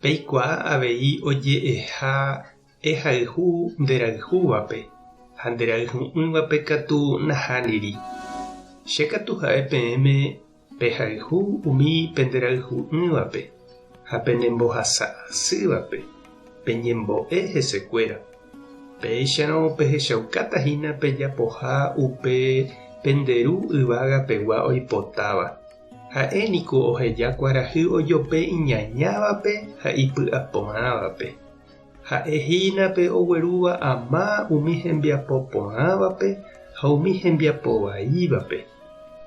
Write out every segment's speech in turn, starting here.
Peikuaa avei oje'eha ehayhu nderayhúvape, ha nderayhu'ỹvape katu nahániri. Che katu ha'e peẽme pehayhu umi penderayhu'ỹvape ha penembohasa asývape peñembo'e hesekuéra. Péicharõ pehechaukáta hína pejapoha upe pende Ru yvága pegua oipotáva. Ha'e niko oheja kuarahy ojope iñañávape ha ipy'a porãvape. Ha'e hína pe oguerúva ama umi hembiapo porãvape ha umi hembiapo vaívape.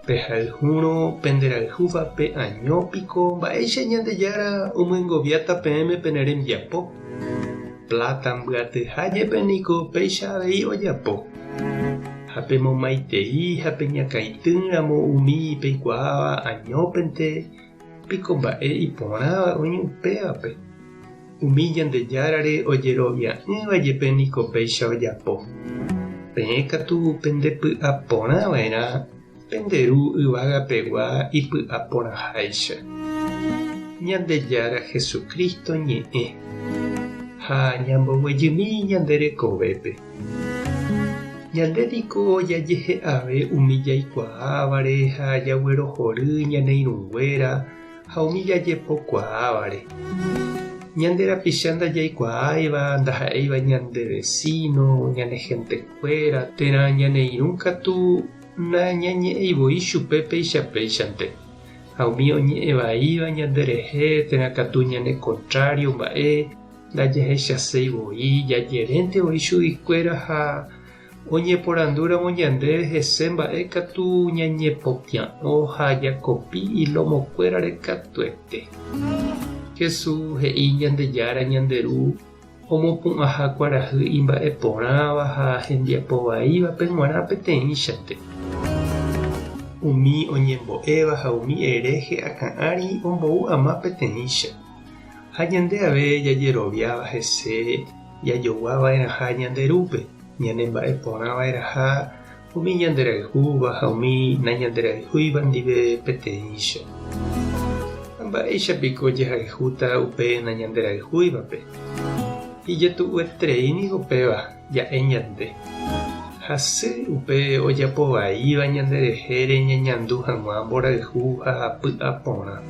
Pehayhúrõ penderayhúvape año piko mba'éicha Ñandejára omyengoviáta peẽme pene rembiapo. Pláta mbyatyha jepe niko péicha avei ojapo. Ha pemomaitei ha peñakãity ramo umi peikuaáva añópente, piko mba'e iporãva oĩ upévape? Umi Ñandejárare ojerovia'ỹva jepe niko péicha ojapo. Peẽ katu pendepy'aporãva'erã Pende Ru yvagapegua ipy'aporãháicha, Ñandejára Jesucristo ñe'ẽ, ha ñamboguejymi ñande rekovépe. Ñande niko jajehe'ave umi jaikuaávare ha jaguerohory ñane irũnguéra ha umi jajepo kuaávare. Ñande rapicha ndajaikuaáiva ndaha'éiva ñande vecino, ñane gente. Kuéra térã ñane irũ katu nañañe'ẽi voi chupe péicha péichante, ha umi oñe'ẽ vaíva ñande rehe térã katu ñane kontrário mba'e ndajahechaséi voi, jajerénte voi chugui kuéra ha oñeporandúramo ñandéve hese mba'e katu ñañepopia'õ ha jakopi ilómo kuérare katuete. Jesús he'i Ñandejára Ñande Ru omopu'ãha kuarahy imba'eporãva ha hembiapo vaívape g̃uarã peteĩchante. Umi oñembo'éva ha umi eréhe akã'ári ombou ama peteĩcha. Ha ñande ave jajeroviáva hese jajogua va'erãha Ñande Rúpe, ñanemba'eporã va'erãha, Umi ñanderayhúva ha umi nañanderayhúiva ndive peteĩcha. Ha mba'éicha piko jahayhúta upe nañanderayhúivape? Ijetu'ueterei ningo péva ja'e ñande. Hasy upe ojapo vaíva ñande rehére ñañandu hag̃ua mborayhu ha py'a porã.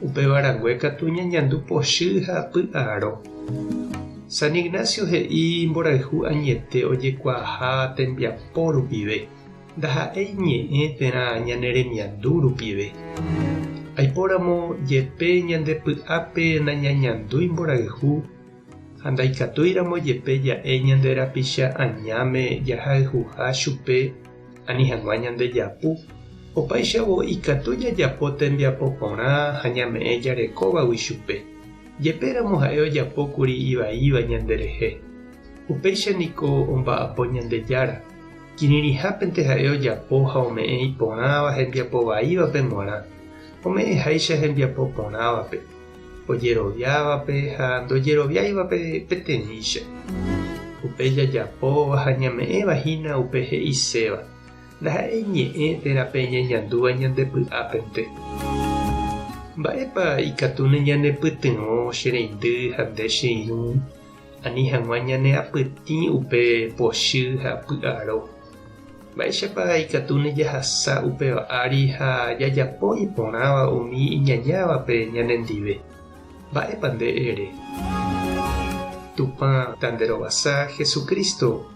Upéva rangue katu ñañandu pochy ha py'aro. San Ignacio he'i mborayhu añete ojekuaaha tembiapo rupive, ndaha'éi ñe'ẽ térã ñane remiandu rupive. Aipóramo jepe ñande py'ápe nañañandúi mborayhu ha ndaikatúiramo jepe ja'e ñande rapicha añáme jahayhuha chupe ani hag̃ua ñande japu, opáichavo ikatu jajapo tembiapo porã ha ñame'ẽ jarekóvagui chupe. Jepe ramo ha'e ojapo kuri ivaíva ñande rehe, upéicha niko omba'apo Ñandejára, kirirĩhápente ha'e ojapo ha ome'ẽ iporãva hembiapo vaívape g̃uarã, ome'ẽ háicha hembiapo porãvape, ojeroviávape ha ndojeroviáivape peteĩcha. Upe jajapóva ha ñame'ẽva hína upe he'iséva. Ndaha'éi ñe'ẽ térã pe ñañandúva ñande py'ápente. Mba'épa ikatu neñanepytyvõ che reindy ha nde che irũ, ani hag̃ua ñaneapytĩ upe pochy ha py'aro? Mba'éichapa ikatu nejahasa upéva ári ha jajapo iporãva umi iñañávape ñanendive? Mba'épa nde ere? Tupã tanderovasa Jesucristo